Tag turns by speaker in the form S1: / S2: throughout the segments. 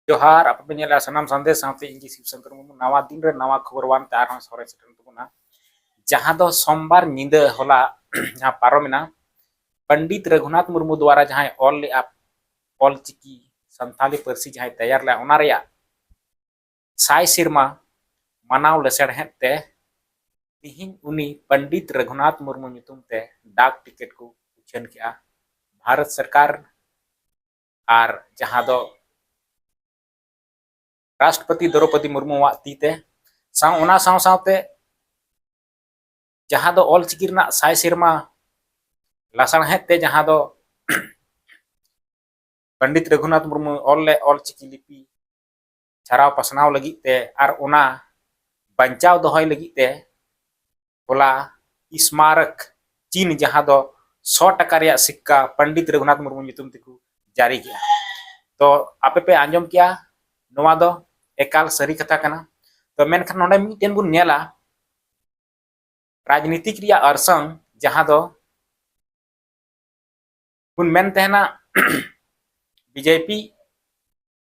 S1: ᱡᱚᱦᱟᱨ ᱟᱯᱮ ᱯᱮ ᱧᱮᱞᱮᱫᱼᱟ ᱥᱟᱱᱟᱢ ᱥᱟᱸᱫᱮᱥ ᱥᱟᱶᱛᱮ ᱤᱧ ᱜᱮ ᱥᱤᱵ ᱥᱚᱝᱠᱚᱨ ᱢᱩᱨᱢᱩ ᱱᱟᱣᱟ ᱫᱤᱱ ᱨᱮ ᱱᱟᱣᱟ ᱠᱷᱚᱵᱚᱨ ᱵᱟᱝ ᱛᱮ ᱟᱨᱦᱚᱸ ᱥᱚᱨᱮ ᱥᱮᱴᱮᱨ ᱛᱟᱵᱚᱱᱟ ᱡᱟᱦᱟᱸ ᱫᱚ ᱥᱳᱢᱵᱟᱨ ᱧᱤᱫᱟᱹ ᱦᱚᱞᱟ ᱡᱟᱦᱟᱸ ᱯᱟᱨᱚᱢᱮᱱᱟ ᱯᱚᱱᱰᱤᱛ ᱨᱟᱹᱜᱷᱩᱱᱟᱛᱷ ᱢᱩᱨᱢᱩ ᱫᱣᱟᱨᱟ ᱡᱟᱦᱟᱸᱭ ᱚᱞ ᱞᱮᱫᱼᱟ ᱚᱞ ᱪᱤᱠᱤ ᱥᱟᱱᱛᱟᱞᱤ ᱯᱟᱹᱨᱥᱤ ᱡᱟᱦᱟᱸᱭ ᱛᱮᱭᱟᱨ ᱞᱮᱫᱼᱟ ᱚᱱᱟ ᱨᱮᱭᱟᱜ ᱥᱟᱭ ᱥᱮᱨᱢᱟ ᱢᱟᱱᱟᱣ ᱞᱮᱥᱮᱲᱦᱮᱫ ᱛᱮ ᱛᱤᱦᱤᱧ ᱩᱱᱤ ᱯᱚᱱᱰᱤᱛ ᱨᱟᱹᱜᱷᱩᱱᱟᱛᱷ ᱢᱩᱨᱢᱩ ᱧᱩᱛᱩᱢ ᱛᱮ ᱰᱟᱠ ᱴᱤᱠᱮᱴ ᱠᱚ ᱩᱪᱷᱟᱹᱱ ᱠᱮᱫᱼᱟ ᱵᱷᱟᱨᱚᱛ ᱥᱚᱨᱠᱟᱨ ᱟᱨ ᱡᱟᱦᱟᱸ ᱫᱚ ᱨᱟᱥᱴᱨᱚᱯᱚᱛᱤ ᱫᱨᱚᱯᱚᱫᱤ ᱢᱩᱨᱢᱩᱣᱟᱜ ᱛᱤ ᱛᱮ ᱥᱟᱶ ᱚᱱᱟ ᱥᱟᱶ ᱥᱟᱶᱛᱮ ᱡᱟᱦᱟᱸ ᱫᱚ ᱚᱞᱪᱤᱠᱤ ᱨᱮᱱᱟᱜ ᱥᱟᱭ ᱥᱮᱨᱢᱟ ᱞᱟᱥᱟᱬᱦᱮᱫ ᱛᱮ ᱡᱟᱦᱟᱸ ᱫᱚ ᱯᱚᱱᱰᱤᱛ ᱨᱚᱜᱷᱩᱱᱟᱛᱷ ᱢᱩᱨᱢᱩ ᱚᱞ ᱞᱮᱫ ᱚᱞᱪᱤᱠᱤ ᱞᱤᱯᱤ ᱪᱷᱟᱨᱟᱣ ᱯᱟᱥᱱᱟᱣ ᱞᱟᱹᱜᱤᱫ ᱛᱮ ᱟᱨ ᱚᱱᱟ ᱵᱟᱧᱪᱟᱣ ᱫᱚᱦᱚᱭ ᱞᱟᱹᱜᱤᱫ ᱛᱮ ᱦᱚᱞᱟ ᱤᱥᱢᱟᱨᱚᱠ ᱪᱤᱱ ᱡᱟᱦᱟᱸ ᱫᱚ ᱥᱚ ᱴᱟᱠᱟ ᱨᱮᱭᱟᱜ ᱥᱤᱠᱠᱟ ᱯᱚᱱᱰᱤᱛ ᱨᱚᱜᱷᱩᱱᱟᱛᱷ ᱢᱩᱨᱢᱩ ᱧᱩᱛᱩᱢ ᱛᱮᱠᱚ ᱡᱟᱹᱨᱤ ᱠᱮᱜᱼᱟ ᱛᱚ ᱟᱯᱮ ᱯᱮ ᱟᱸᱡᱚᱢ ᱠᱮᱜᱼᱟ ᱱᱚᱣᱟ ᱫᱚ ᱮᱠᱟᱞ ᱥᱟᱹᱨᱤ ᱠᱟᱛᱷᱟ ᱠᱟᱱᱟ ᱛᱚ ᱢᱮᱱᱠᱷᱟᱱ ᱱᱚᱰᱮ ᱢᱤᱫᱴᱮᱱ ᱵᱚᱱ ᱧᱮᱞᱟ ᱨᱟᱡᱽᱱᱤᱛᱤᱠ ᱨᱮᱭᱟᱜ ᱚᱨᱥᱚᱝ ᱡᱟᱦᱟᱸ ᱫᱚ ᱵᱚᱱ ᱢᱮᱱ ᱛᱟᱦᱮᱱᱟ ᱵᱤᱡᱮᱯᱤ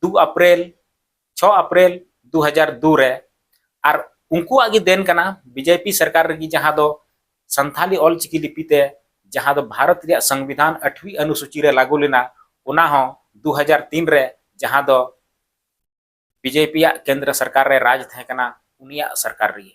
S1: ᱫᱩ ᱟᱯᱨᱮᱞ ᱪᱷᱚ ᱟᱯᱨᱮᱞ ᱫᱩ ᱦᱟᱡᱟᱨ ᱫᱩ ᱨᱮ ᱟᱨ ᱩᱱᱠᱩᱣᱟᱜ ᱜᱮ ᱫᱮᱱ ᱠᱟᱱᱟ ᱵᱤᱡᱮᱯᱤ ᱥᱚᱨᱠᱟᱨ ᱨᱮᱜᱮ ᱡᱟᱦᱟᱸ ᱫᱚ ᱥᱟᱱᱛᱷᱟᱞᱤ ᱚᱞ ᱪᱤᱠᱤ ᱞᱤᱯᱤ ᱛᱮ ᱡᱟᱦᱟᱸ ᱫᱚ ᱵᱷᱟᱨᱚᱛ ᱨᱮᱭᱟᱜ ᱥᱚᱝᱵᱤᱫᱷᱟᱱ ᱟᱴᱷᱣᱤ ᱟᱱᱩᱥᱩᱪᱤ ᱨᱮ ᱞᱟᱜᱩ ᱞᱮᱱᱟ ᱚᱱᱟ ᱦᱚᱸ ᱫᱩ ᱦᱟᱡᱟᱨ ᱛᱤᱱ ᱨᱮ ᱡᱟᱦᱟᱸ ᱫᱚ ᱵᱤᱡᱮᱯᱤ ᱭᱟᱜ ᱠᱮᱱᱫᱨᱚ ᱥᱚᱨᱠᱟᱨ ᱨᱮ ᱨᱟᱡᱽ ᱛᱟᱦᱮᱸ ᱠᱟᱱᱟ ᱩᱱᱤᱭᱟᱜ ᱥᱚᱨᱠᱟᱨ ᱨᱮᱜᱮ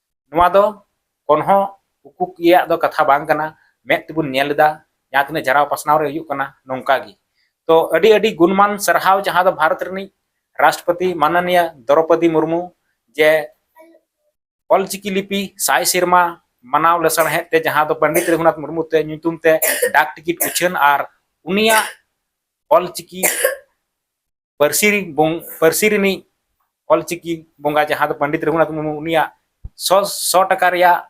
S1: ᱱᱚᱣᱟ ᱫᱚ ᱠᱚᱱᱦᱚ ᱩᱠᱩᱠ ᱤᱭᱟᱹ ᱫᱚ ᱠᱟᱛᱷᱟ ᱵᱟᱝ ᱠᱟᱱᱟ ᱢᱮᱫ ᱛᱮᱵᱚᱱ ᱧᱮᱞ ᱮᱫᱟ ᱡᱟᱦᱟᱸ ᱛᱤᱱᱟᱹᱜ ᱡᱟᱨᱟᱣ ᱯᱟᱥᱱᱟᱣ ᱨᱮ ᱦᱩᱭᱩᱜ ᱠᱟᱱᱟ ᱱᱚᱝᱠᱟ ᱜᱮ ᱛᱚ ᱟᱹᱰᱤ ᱟᱹᱰᱤ ᱜᱩᱱᱢᱟᱱ ᱥᱟᱨᱦᱟᱣ ᱡᱟᱦᱟᱸ ᱫᱚ ᱵᱷᱟᱨᱚᱛ ᱨᱤᱱᱤᱡ ᱨᱟᱥᱴᱨᱚᱯᱚᱛᱤ ᱢᱟᱱᱚᱱᱤᱭᱟ ᱫᱨᱚᱯᱚᱫᱤ ᱢᱩᱨᱢᱩ ᱡᱮ ᱚᱞᱪᱤᱠᱤ ᱞᱤᱯᱤ ᱥᱟᱭ ᱥᱮᱨᱢᱟ ᱢᱟᱱᱟᱣ ᱞᱮᱥᱟᱲᱦᱮᱫ ᱛᱮ ᱡᱟᱦᱟᱸ ᱫᱚ ᱯᱚᱱᱰᱤᱛ ᱨᱚᱜᱷᱩᱱᱟᱛᱷ ᱢᱩᱨᱢᱩ ᱛᱮ ᱧᱩᱛᱩᱢ ᱛᱮ ᱰᱟᱠ ᱴᱤᱠᱤᱴ ᱩᱪᱷᱟᱹᱱ ᱟᱨ ᱩᱱᱤᱭᱟᱜ ᱚᱞᱪᱤᱠᱤ ᱯᱟᱹᱨᱥᱤ ᱯᱟᱹᱨᱥᱤ ᱨᱤᱱᱤᱡ ᱚᱞᱪᱤᱠᱤ ᱵᱚᱸᱜᱟ ᱡᱟᱦᱟᱸ ᱫᱚ ᱯᱚᱱᱰᱤᱛ ᱨᱚᱜᱷᱩᱱᱟᱛᱷ ᱢᱩᱨᱢᱩ ᱩᱱᱤᱭᱟᱜ ᱥᱚ ᱥᱚ ᱴᱟᱠᱟ ᱨᱮᱭᱟᱜ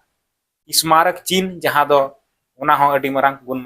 S1: ᱥᱢᱟᱨᱚᱠ ᱪᱤᱱ ᱡᱟᱦᱟᱸ ᱫᱚ ᱚᱱᱟ ᱦᱚᱸ ᱟᱹᱰᱤ ᱢᱟᱨᱟᱝ ᱜᱩᱱᱢᱟᱱ